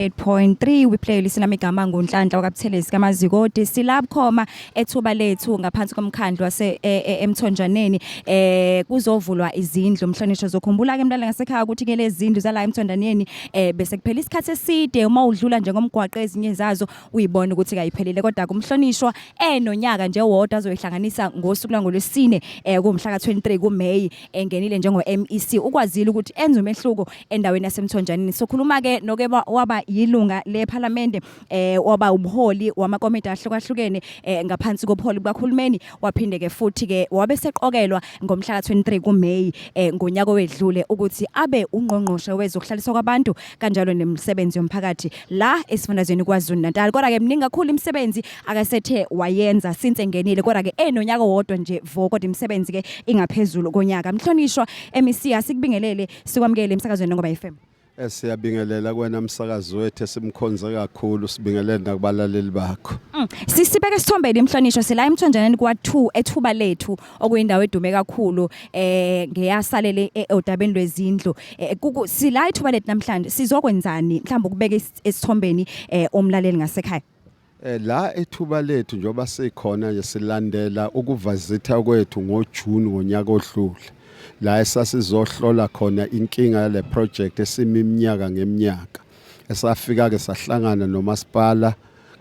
8.3 we play listen lami igama ngunhlanhla wakabuthelezi kamazikoti silab khoma ethuba lethu ngaphansi komkhandlu wase e, e, emthonjaneni eh kuzovulwa izindlu mhlonishwa zokhumbula ke mntwana ngasekhaya ukuthi ke lezindlu zala emthonjaneni eh bese kuphela isikhathi eside uma udlula nje ngomgwaqo ezinye zazo uyibona ukuthi kayiphelile kodwa kumhlonishwa enonyaka nje wodwa azoyihlanganisa ngosuku langolwesine eh kumhla ka23 kuMay engenile njengo MEC ukwazile ukuthi enze umehluko endaweni yasemthonjanini sokhuluma ke noke ba- waba yilunga lephalamende eh waba umholi wamakomiti ahlukahlukene eh, ngaphansi kobuholi bukahulumeni waphinde ke futhi ke wabe seqokelwa ngomhla ka-23 kuMay eh, ngonyaka owedlule ukuthi abe ungqongqoshe wezokuhlaliswa kwabantu kanjalo nemisebenzi yomphakathi la esifundazweni KwaZulu Natal kodwa ke mningi kakhulu imisebenzi akasethe wayenza since engenile kodwa ke enonyaka wodwa nje vo kodwa imisebenzi ke ingaphezulu konyaka mhlonishwa MEC asikubingelele Sikwamukele emsakazweni Nongoba FM. Eh, siyabingelela kwena msakazi wethu esimkhonze kakhulu sibingelele nakubalaleli bakho mm. sisibeke sithombeni imhlonishwa sila emthonjaneni kwa2 ethuba lethu okuyindawo edume kakhulu eh ngeyasalele e, odabeni lwezindlu eh, sila ithuba lethu namhlanje sizokwenzani mhlawumbe ukubeka esithombeni eh, umlaleli ngasekhaya Eh, la ethuba lethu njengoba sikhona nje silandela ukuvazitha kwethu ngoJune ngonyaka odlule la esasizohlola khona inkinga yale project esimi iminyaka ngeminyaka esafika ke sahlangana nomasipala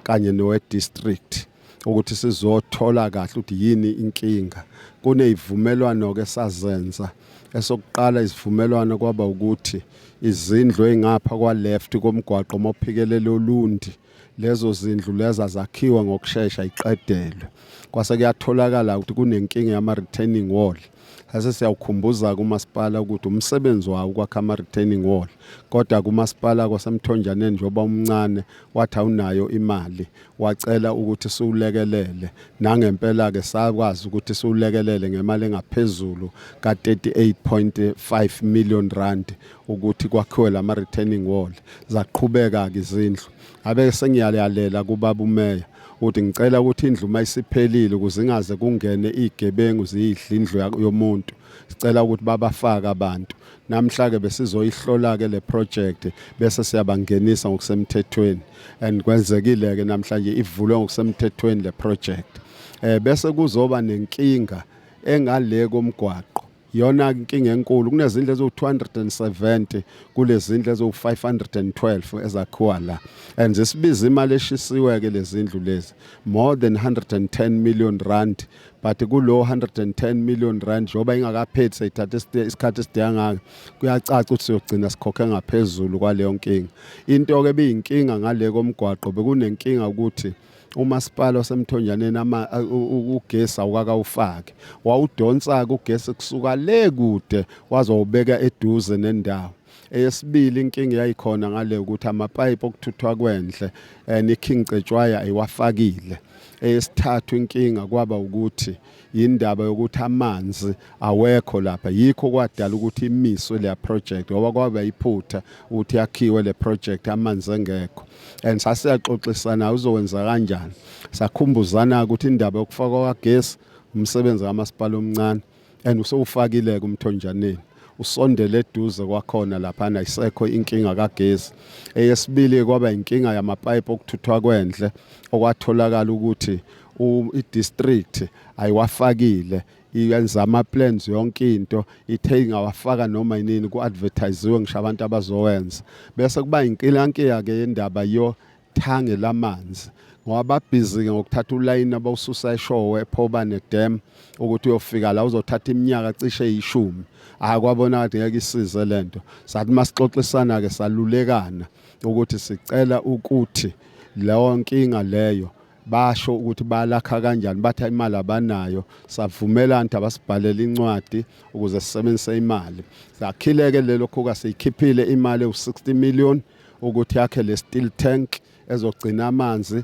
kanye nowe district ukuthi sizothola kahle ukuthi yini inkinga kunezivumelwano ke sazenza esokuqala isivumelwano kwaba ukuthi izindlu engapha kwa left komgwaqo mophikelela olundi lezo zindlu leza zakhiwa ngokushesha iqedelwe kwase kuyatholakala ukuthi kunenkinga yama-retaining wall sase siyawukhumbuza kumasipala ukuthi umsebenzi wawo ukwakha ama-retaining wall kodwa kumasipala kwasemthonjaneni njengoba umncane wathi awunayo imali wacela ukuthi siwulekelele nangempela-ke sakwazi ukuthi siwulekelele ngemali engaphezulu ka-38.5 million rand ukuthi kwakhiwe lama retaining wall zaqhubeka ke izindlu abe sengiyalela kubaba umeya ukuthi ngicela ukuthi indlu uma isiphelile ukuze ingaze kungene igebengu ziyidla indlu yomuntu sicela ukuthi babafake abantu namhla ke besizoyihlola ke le project bese siyabangenisa ngokusemthethweni and kwenzekile ke namhlanje ivulwe ngokusemthethweni le project eh bese kuzoba nenkinga engale komgwaqo yona inkinga enkulu kunezindlu eziwu-270 kulezindlu eziwu-512 ezakhiwa la and zisibiza imali eshisiwe-ke lezindlu lezi more than 110 million rand but kulo 110 million rand njengoba ingakaphethi seyithatha isikhathi esideka ngaka kuyacaca ukuthi siyogcina sikhokhe ngaphezulu kwaleyo nkinga into-ke biyinkinga ngale komgwaqo bekunenkinga ukuthi umasipala wasemthonjaneni ama ugesi awukakawufaki wawudonsa-ke ugesi kusuka le kude wazowubeka eduze nendawo eyesibili inkinga yayikhona ngale ukuthi amapayipi okuthuthwa kwendle and eh, ikhincetshwaya ayiwafakile eyesithathu inkinga kwaba ukuthi yindaba yokuthi amanzi awekho lapha yikho kwadala ukuthi imiswe le project ngoba kwaba iphutha ukuthi yakhiwe le project amanzi engekho and sasiyaxoxisana uzokwenza kanjani sakhumbuzana ukuthi indaba yokufakwa kagesi umsebenzi kamasipala omncane and usewufakile-ke umthonjaneni usondele eduze kwakhona laphana isekho inkinga kagesi eyesibili kwaba inkinga yamapipe okuthuthwa kwendle okwatholakala ukuthi i-district ayiwafakile yenza ama-plans yonke into ithe ingawafaka noma yinini ku-advertisiwe ngisho abantu abazowenza bese kuba inkilankiya-ke yendaba yo thange lamanzi ngoba babhizi-ke ngokuthatha ulayini abawususa eshowe phoba nedam ukuthi uyofika la uzothatha iminyaka cishe eyishumi hhayi kwabona kade ngeke isize le nto sathi uma sixoxisana-ke salulekana ukuthi sicela ukuthi leyo nkinga leyo basho ukuthi balakha kanjani batha imali abanayo savumelana ukuthi abasibhalele incwadi ukuze sisebenzise imali sakhileke lelo khuka siyikhiphile imali ewu-60 million ukuthi yakhe le steel tank ezogcina amanzi